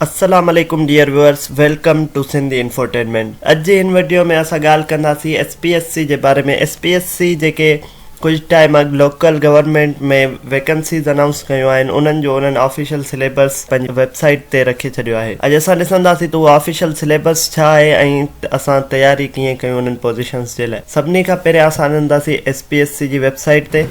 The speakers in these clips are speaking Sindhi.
السلام عليڪم dear viewers welcome to Sindh Infotainment اڄ جي هن وڊيو ۾ اسان ڳالهه ڪنداسين ايس پي ايس سي جي باري ۾ ايس پي ايس سي جيڪي ڪجهه ٽائيم اڳ لوڪل گورنمينٽ ۾ ويڪنسيز انائونس ڪيون آهن انهن جو انهن آفيشل سليبس پنهنجي ويب سائيٽ تي رکي ڇڏيو آهي اڄ اسان ڏسنداسين ته اهو آفيشل سليبس ڇا آهي ۽ اسان تياري ڪيئن ڪيون انهن پوزيشنز جي لاء سڀني کان پهريان اسان وينداسين ايس پي ايس سي جي ويب سائيٽ تي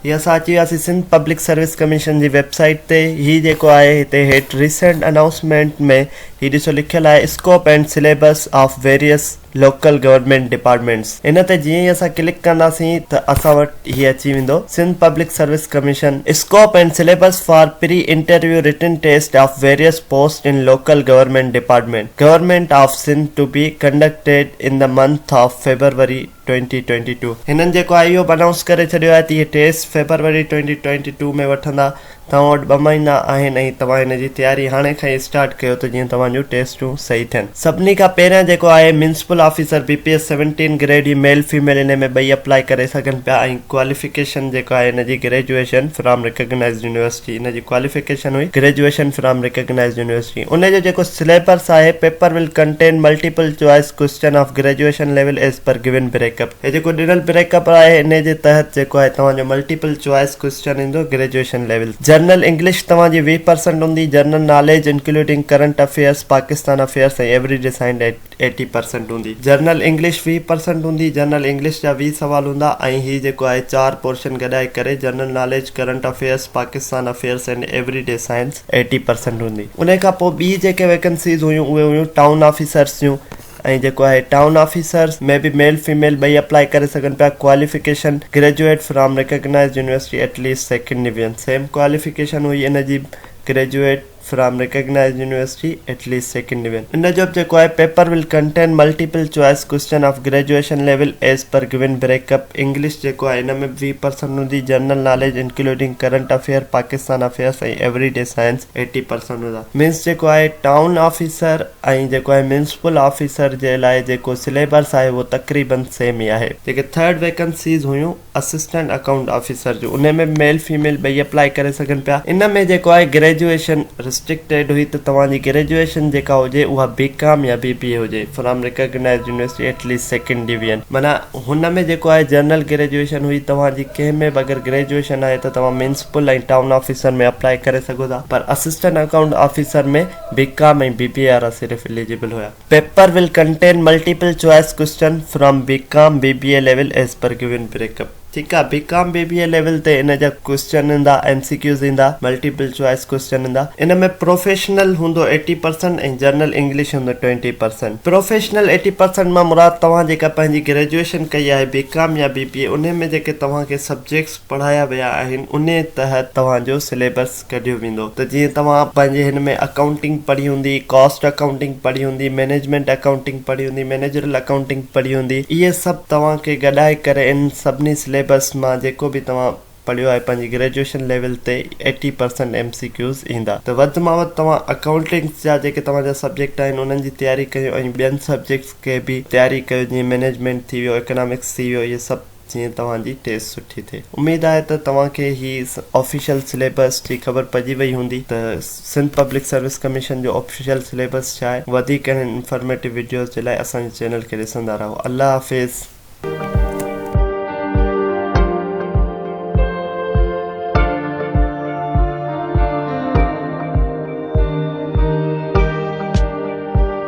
هي اسان اچي وياسين سنڌ پبلڪ سروس ڪميشن جي ويب سائيٽ تي هي جيڪو آهي هتي هيٺ ريسينٽ انائونسمينٽ ۾ هي ڏسو لکيل آهي scope and syllabus of various local government departments ان تي جيئن ئي اسان ڪلڪ ڪنداسين ته اسان وٽ هي اچي ويندو Sindh public service commission scope and syllabus for pre interview written test of various post in local government department government of Sindh to be conducted in the month of February twenty twenty two هنن جيڪو آهي اهو به انائونس ڪري ڇڏيو آهي ته اهي test February twenty twenty two ۾ وٺندا توهان وٽ ٻه مهينا آهن ۽ توهان هن جي تياري هاڻي کان ئي اسٽارٽ ڪيو ته جيئن توهان جون ٽيسٽون صحيح ٿين. سڀني کان پهريان جيڪو آهي municipal officer B P S seventeen grade جي ميل فيميل ان ۾ ٻئي اپلائي ڪري سگهن پيا ۽ ڪواليفڪيشن جيڪو آهي ان جي گريجوئيشن فرام ريڪگنائيزڊ يونيورسٽي ان جي ڪواليفڪيشن هئي گريجوئيشن فرام ريڪگنائيزڊ يونيورسٽي ان جو جيڪو سليبرس آهي paper will contain multiple choice question of graduation level as per given break up. هي جيڪو ڏنل بريڪ اپ آهي انهي جي تحت جيڪو آهي توهان جو ملٽيپل چوائس ڪوئسچن ايندو گريجوئيشن ليول جرنل انگلش توهان جي ويهه پرسنٽ هوندي general knowledge including current affairs Pakistan affairs ۽ everyday science eighty percent هوندي جرنل انگلش ويهه پرسنٽ هوندي جرنل انگلش جا ويهه سوال هوندا ۽ هي جيڪو آهي چار پورشن گڏائي ڪري general knowledge current affairs Pakistan affairs and everyday science eighty percent هوندي انهي کان پوء ٻي جيڪي ويڪنسيز هيون اهي هيون ٽائون آفيسرس جون ۽ جيڪو آهي ٽائون آفيسر ۾ به ميل فيميل ٻئي اپلائي ڪري سگهن پيا qualification graduate from recognised university at least second division same qualification هئي ان جي به graduate from recognised university at least second division ان جو به جيڪو آهي paper will contain multiple choice question of graduation level as per given break up English جيڪو آهي ان ۾ به ويهه پرسنٽ هوندي general knowledge including current affair Pakistan affairs ۽ everyday science eighty percent هوندا مينس جيڪو آهي ٽائون آفيسر ۽ جيڪو آهي ميونسپل آفيسر جي لاء جيڪو سليبس آهي اهو تقريباً سيم ئي آهي. جيڪي ٿرڊ ويڪنسيز هيون اسسٽنٽ اڪائونٽ آفيسر جون انهي ۾ به ميل فيميل ٻئي اپلائي ڪري سگهن پيا ان ۾ جيڪو آهي گريجوئيشن رسٽرڪٽيڊ هئي ته توهان جي گريجوئيشن جيڪا هجي اها بي ڪام يا بي بي اي هجي from recognised university at least second division معنيٰ هن ۾ جيڪو آهي جنرل گريجوئيشن هئي توهان جي ڪنهن ۾ به اگر گريجوئيشن آهي ته توهان ميونسپل ۽ ٽائون آفيسر ۾ اپلائي ڪري سگهو ٿا پر assistant account officer ۾ B com ۽ B B A وارا صرف اليجيبل هيا. Paper will contain multiple choice question from B com B B A level as per given break up. ٺيڪ آ بي com B B A level تي ان جا ڪوئسچن ايندا ايم سي ڪيوز ايندا ملٽيپل چوائس ڪوئسچن ايندا ان ۾ پروفيشنل هوندو ايٽي پرسنٽ ۽ جنرل انگلش هوندو twenty percent professional eighty percent مان مراد توهان جيڪا پنهنجي گريجوئيشن ڪئي آهي بي ڪام يا بي بي اي انهي ۾ جيڪي توهان کي سبجيڪٽس پڙهايا ويا آهن انهي تحت توهان جو سليبس ڪڍيو ويندو ته جيئن توهان پنهنجي هن ۾ اڪائونٽنگ پڙهي هوندي، ڪاسٽ اڪائونٽنگ پڙهي هوندي، مئنيجمينٽ اڪائونٽنگ پڙهي هوندي، مئنيجرل اڪائونٽنگ پڙهي هوندي، اهي سڀ توهان کي گڏائي ڪري ان سڀني سليبس مان جيڪو به توهان پڙهيو آهي پنهنجي گريجوئيشن ليول تي eighty percent M C Qs ايندا ته وڌ مان وڌ توهان اڪائونٽنگس جا جيڪي توهان جا سبجيڪٽ آهن انهن جي تياري ڪيو ۽ ٻين سبجيڪٽس کي به تياري ڪيو جيئن مئنيجمينٽ ٿي ويو اڪنامڪس ٿي ويو اهي سڀ جيئن توهان جي ٽيسٽ سٺي ٿئي. اميد آهي ته توهان کي هي آفيشل سليبس جي خبر پئجي وئي هوندي ته سنڌ پبلڪ سروس ڪميشن جو آفيشل سليبس ڇا آهي. وڌيڪ اهڙين انفارميٽو وڊيوز جي لاء اسان جي چينل کي ڏسندا رهو. الله حافظ.